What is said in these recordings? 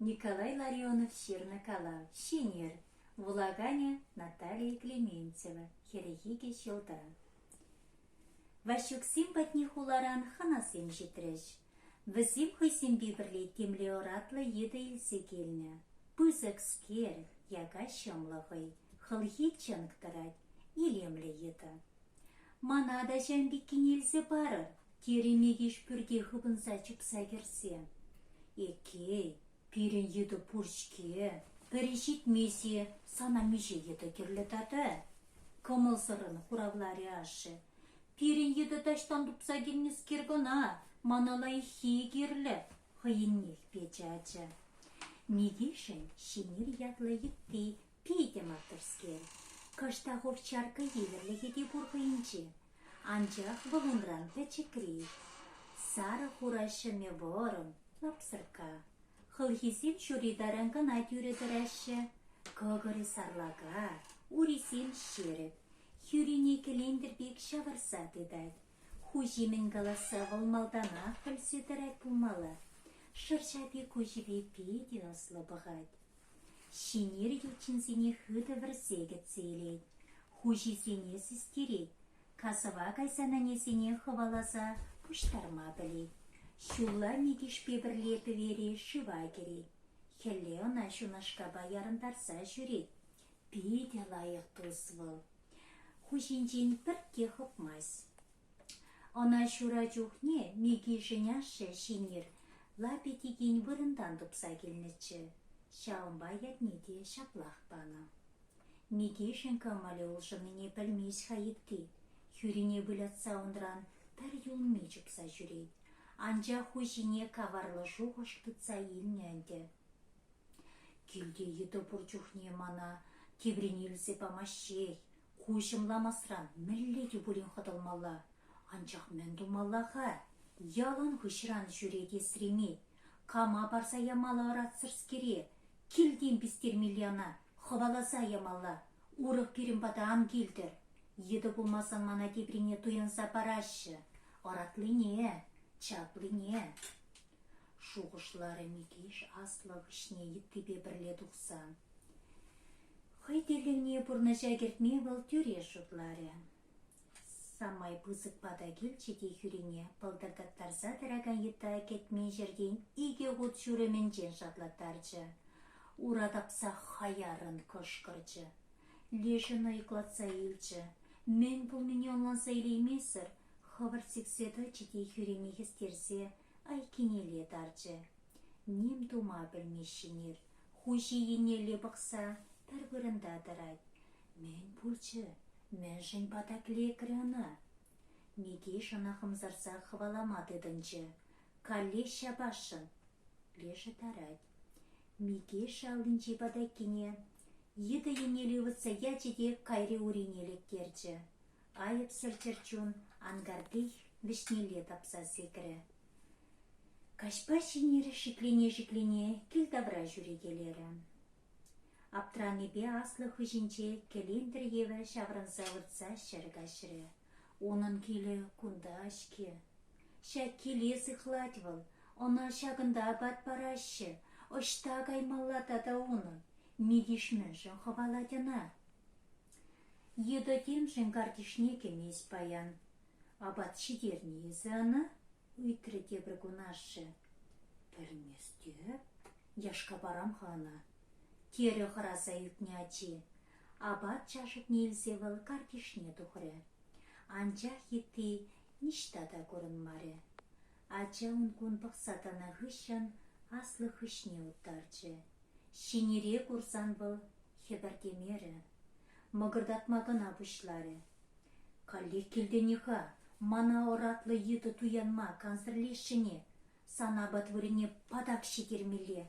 Николай Ларионов ҫырнӑ калав «Шинель» вулаканӗ Наталия Клементьева хӗрӗхе те ҫӑлта. Ваҫҫуксем патне хуларан хӑнасем ҫитрӗҫ. Вӗсем хӑйсемпе пӗрле темле оратлӑ йытӑ илсе килнӗ. Пысӑк скерв, яка ҫӑмлӑ хӑй, хӑлхи чӑнк тӑрать, илемлӗ йытӑ. «Мана та ҫам пеккине илсе парӑр», Керемехеҫ пӳрте хыпӑнса чупса кӗрсе. Эккей, пирӗн йытӑ пур-ҫке. Пӗри ҫитмест-и, сана миҫе йытӑ кирлӗ тата? кӑмӑлсӑррӑн хуравларӗ ашшӗ. Пирӗн йытӑ таҫтан тупса килнӗскер кӑна мана лайӑххи кирлӗ, хӑйӗннех печӗ ача. Микишӗн Ҫӗнер ятлӑ йытти Питӗ маттурскер, кӑштах урчаркка евӗрлӗхӗ те пур хӑйӗнче, анчах вӑл унран пӗчӗкрех. Сарӑ хура ҫӗмӗ вӑрӑм, лапсӑркка. Хӑлхисем ҫури таран кӑна тӳрӗ тӑраҫҫӗ, кӑкӑрӗ сарлака, урисем ҫерӗк, хӳрине кӗлентӗр пек ҫавӑрса тытать. Хуҫи мӗн каласса вӑл малтанах пӗлсе тӑрать пулмалла. Шӑрҫапи куҫӗпе питӗ ӑслӑ пӑхать. Ҫӗнеркел ҫынсене хытӑ вӗрсе кӗтсе илет, хуҫисене систерет, касӑва кайсан ӗнесене хӑваласа пуҫтарма пӗлет, ҫулла Микишпе пӗрле пӗвере шыва кӗрет, хӗлле ӑна ҫунашкапа ярӑнтарса ҫӳрет. Питӗ лайӑх тус вӑл. Хуҫинчен пӗртте хӑпмасть. Ӑна ҫура чухне Микишӗн ашшӗ Шинель лапӗ-тикин вырӑнтан тупса килнӗччӗ, ҫавӑнпа ятне те ҫаплах панӑ. Микишӗн кӑмӑлӗ улшӑннине пӗлмест-ха Итти, хӳрине вылятса унран пӗр юлми чупса ҫӳрет, анчах хуҫине каварлӑ шухӑш тытса илнӗ ӗнтӗ. «Килте йытӑ пур чухне мана теприне илсе памаҫҫех, Ку ҫӑмламасран мӗнле те пулин хӑтӑлмалла, анчах мӗн тумалла-ха? Ялан хыҫран ҫӳрет Есремей. Кама парса ямалла ӑратсӑрскере? Килтен пистермелле ӑна, хӑваласа ямалла. Урӑх пирӗн пата ан килтӗр. Йытӑ пулмасан мана теприне туянса параҫҫӗ. Ӑратлине, чаплине. шухӑшларӗ Микиш аслӑ хыҫне йыттипе пӗрле тухса. Хӑй тӗллевне пурнӑҫа кӗртме вӑл тӳрех шутларӗ. Самай пысӑк пата килчӗ те хӳрине пӑлтӑртаттарса тӑракан йытта кӗтмен ҫӗртен икӗ хут ҫурӑмӗнчен шатлаттарчӗ. Ура тапса хаяррӑн кӑшкӑрчӗ. Лешӗ нӑйкӑлатса илчӗ. Мӗн пулнине ӑнланса илеймесӗр хӑвӑрт сиксе тӑчӗ те хӳрине хӗстерсе айккинелле тарчӗ. Ним тума пӗлмеҫҫӗ-нир, хуҫи еннелле пӑхса пӗр вырӑнта тӑрать. Мӗн пулчӗ? Мӗншӗн патак лекрӗ ӑна? Микиш ӑна хӑмсарса хӑвалама тытӑнчӗ. Каллех ҫапасшӑн. Лешӗ тарать. Микиш аллинчи патаккине йытӑ еннелле ывӑтса ячӗ те кайри урине лектерчӗ. Айӑпсӑр чӗрчун анкарти вӗҫнелле тапса секрӗ. Каҫпа Ҫӗннер шиклене-шиклене кил тавра ҫӳрекелерӗ. Аптранипе аслӑ хыҫӗнче кӗлентӗр евӗр ҫаврӑнса выртса ҫӗр каҫрӗ. Унӑн килӗ кунта-ҫке. Ҫак киле сыхлать вӑл, ӑна ҫакӑнта апат параҫҫӗ, ӑҫта каймалла тата унӑн? Митиш мӗншӗн хӑвалать ӑна? Йытӑ темшӗн картишне кӗмест паян. Апат ҫитернӗ эсӗ ӑна? — ыйтрӗ тепӗр кун ашшӗ. — Пӗлместӗп, яшкапарам-ха ӑна, — терӗ хӑраса ӳкнӗ ачи. Апат чашӑкне илсе вӑл картишне тухрӗ. Анчах йытти ниҫта та курӑнмарӗ. Ача ун-кун пӑхса тӑнӑ хыҫҫӑн аслӑ хыҫне уттарчӗ. Ҫинире курсан вӑл хӗпӗртемерӗ, мӑкӑртатма кӑна пуҫларӗ. Каллех килтен-и-ха, мана ӑратлӑ йытӑ туянма кансӗрлесшӗн-и? Сан апат вырӑнне патак ҫитермелле.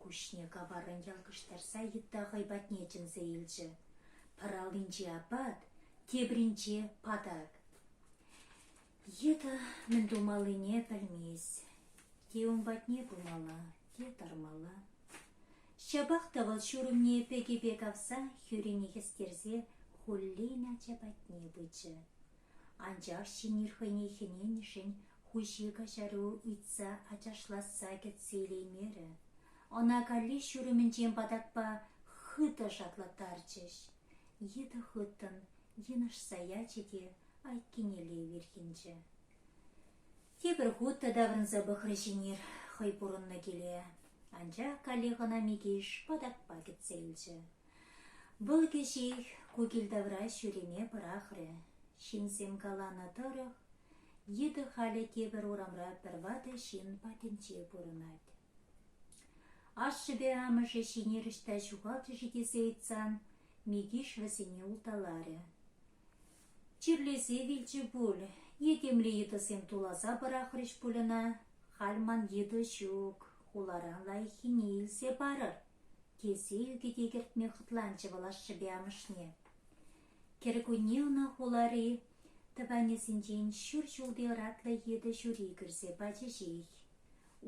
Куҫне каваррӑн ялкӑштарса йытта хӑй патне чӗнсе илчӗ. Пӑр аллинче апат, тепринче патак. Йытӑ мӗн тумаллине пӗлмест. Те ун патне пымалла, те тармалла. Ҫапах та вӑл ҫурӑмне пӗкӗпе кавса хӳрине хӗстерсе хуллен ача патне пычӗ. Анчах Ҫинер хӑйне хӗненӗшӗн хуҫи каҫару ыйтса ачашлатса кӗтсе илеймерӗ. Ӑна каллех ҫурӑмӗнчен патакпа хытӑ шатлаттарчӗҫ. Йытӑ хыттӑн йынӑшса ячӗ те айккинелле вирхӗнчӗ. Тепӗр хут та таврӑнса пӑхрӗ Шинир хӑй пурӑннӑ киле, анчах каллех ӑна Микиш патакпа кӗтсе илчӗ. Вӑл кӗҫех ку кил тавра ҫӳреме пӑрахрӗ. Ҫынсем каланӑ тӑрӑх, йытӑ халӗ тепӗр урамра пӗр ватӑ ҫын патӗнче пурӑнать. Ашшӗпе амӑшӗ Шинель ӑҫта ҫухалчӗ-ши тесе ыйтсан, Микиш вӗсене улталарӗ. Чирлесе вилчӗ пуль, е темле йытӑсем туласа пӑрахрӗҫ пуль ӑна. Халь ман йытӑ ҫук, хуларан лайӑххине илсе парӑр, тесе ӳкӗте кӗртме хӑтланчӗ вӑл ашшӗпе амӑшне. Кӗркунне ӑна хулари тӑванӗсенчен ҫур ҫулти ӑратлӑ йытӑ ҫури кӗрсе пачӗҫех.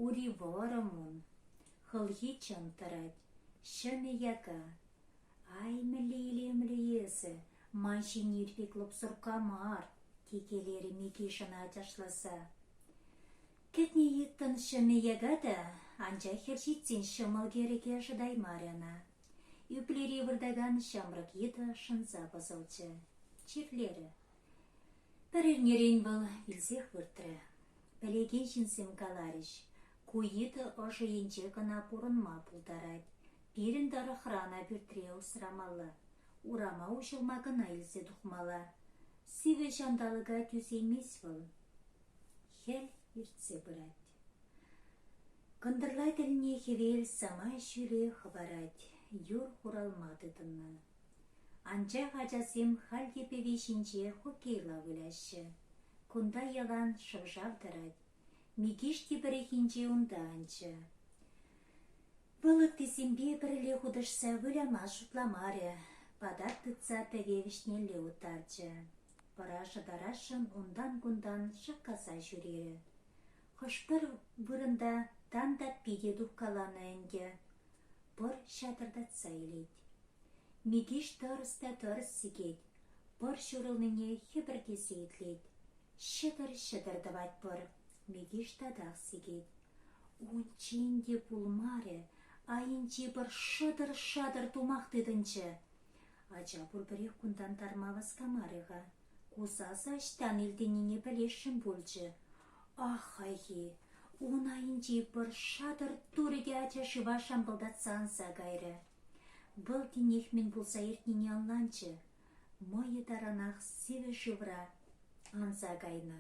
Ури вӑрӑм ун, хӑлхи чӑм тӑрать, ҫӑмӗ яка, Ай, мӗнле илемлӗ эсӗ, ман ҫине ирпе клӑпсӑркка мар, текелерӗ Микишӑн ачашласа. Кӗтнӗ йыттӑн ҫӑмӗ яка та, анчах хӗр ҫитсен ҫӑмӑл кӗрӗке шӑтаймарӗ ӑна. Ӳплери выртакан ҫамрӑк йытӑ шӑнса пӑсӑлчӗ. Чирлерӗ. Пӗр эрнерен вӑл вилсех выртрӗ. Пӗлекен ҫынсем каларӗҫ, ку йытӑ ӑшӑ енче кӑна пурӑнма пултарать, Пирӗн тӑрӑхрана пӳртре усрамалла, урама уҫӑлма кӑна илсе тухмалла. Сивӗ ҫанталӑка тӳсеймест вӑл. Хӗл иртсе пырать. Кӑнтӑрла тӗлне хӗвел самай ҫӳле хӑпарать, юр хуралма тытӑннӑ. Анчах ачасем халь те пӗви ҫинче хоккейла выляҫҫӗ. Кунта ялан шӑв-шав тӑрать, Микиш тепӗрехинче унта анчӗ. Вӑл ыттисемпе пӗрле хутӑшса выляма шутламарӗ, патак тытса пӗве вӗҫнелле уттарчӗ. Пӑра шӑтарасшӑн унтан-кунтан шаккаса ҫӳрерӗ. Хӑш-пӗр вырӑнта тан таппи те тухкаланӑ ӗнтӗ. Пӑр ҫатӑртатса илет. Микеҫ тӑрӑс та тӑрӑс сикет, пӑр ҫурӑлнине хӗпӗртесе итлет. Ҫӑтӑр-ҫӑтӑр тӑвать пӑр. Микеҫ татах сикет. Унччен те пулмарӗ, айӗнчи пӑр шӑтӑр-шатӑр тумах тытӑнчӗ. Ача пурпӗрех кунтан тарма васкамарӗ-ха. Ку сасӑ ӑҫтан илтӗннине пӗлесшӗн пулчӗ. Ах, хайхи, ун айӗнчи пӗр шатӑр турӗкӗ ача шыва шампӑлтатса анса кайрӗ. Вӑл тинех мӗн пулса иртнине ӑнланчӗ. Мӑйӗ таранах сивӗ шывра анса кайнӑ.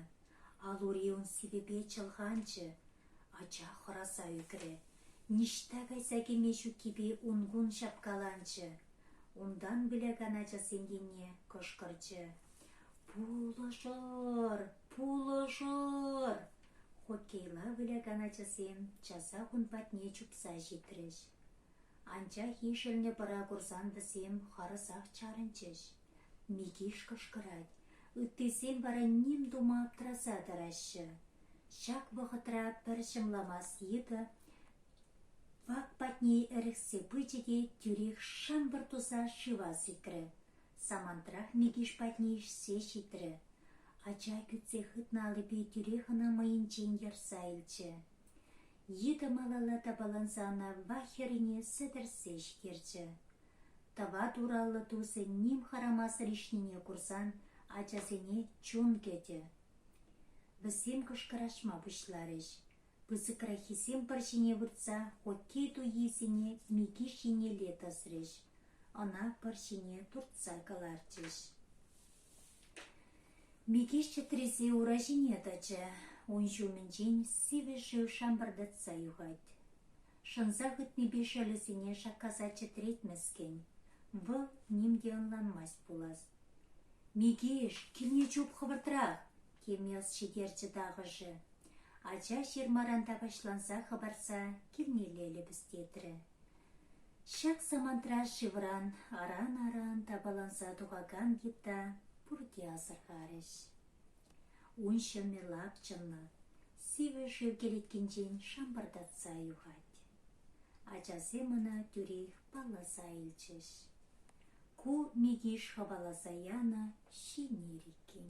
Ал-ури ун сивӗпе чӑлханчӗ. Ача хӑраса ӳкрӗ. Ниҫта кайса кӗме ҫуккипе ун-кун ҫапкаланчӗ. Унтан вылякан ачасем енне кӑшкӑрчӗ. Пулӑшӑр, пулӑшӑр! хоккейла вылякан ачасем часах ун патне чупса ҫитрӗҫ. Анчах ишӗлнӗ пӑра курсан вӗсем харӑсах чарӑнчӗҫ. Микиш кӑшкӑрать, ыттисем вара ним тума аптӑраса тӑраҫҫӗ. Ҫак вӑхӑтра пӗр ҫӑмламас йытӑ вак патне ӗрӗхсе пычӗ те тӳрех шӑмпӑр туса шыва сикрӗ. Самантрах Микиш патне ишсе ҫитрӗ. Ача кӳтсе хытнӑ аллипе тӳрех ӑна мӑйӗнчен ярса илчӗ. Йытӑ малалла тапаланса ӑна Ва хӗррине сӗтӗрсе ҫитерчӗ. Тӑват ураллӑ тусӗ ним хӑрамасӑр ишнине курсан ачасене чун кӗтӗ. Вӗсем кӑшкӑрашма пуҫларӗҫ. Пысӑкраххисем пӑр ҫине выртса хоккей туййисене Микиш еннелле тӑсрӗҫ, ӑна пӑр ҫине туртса кӑларчӗҫ. Микиш чӗтресе ура ҫине тӑчӗ, ун ҫумӗнчен сивӗ шыв шампӑртатса юхать. Шӑнса хытнипе шӑлӗсене шаккаса чӗтретмӗскӗн, вӑл ним те ӑнланмасть пулас. «Микиш, килне чуп хӑвӑртрах!» Кемёс ҫитерчӗ тахӑшӗ. Ача ҫырмаран тапаҫланса хӑпарса килнелле лӗпӗстетрӗ. Ҫак самантра шывран аран-аран тапаланса тухакан гитта пурте асӑрхарӗҫ. Ун ҫӑмӗ лапчӑнлӑ, сивӗ шыв кӗлеткинчен шампӑртатса юхать. Ачасем ӑна тӳрех палласа илчӗҫ. Ку Микиш хӑваласа янӑ ҫинер иккен.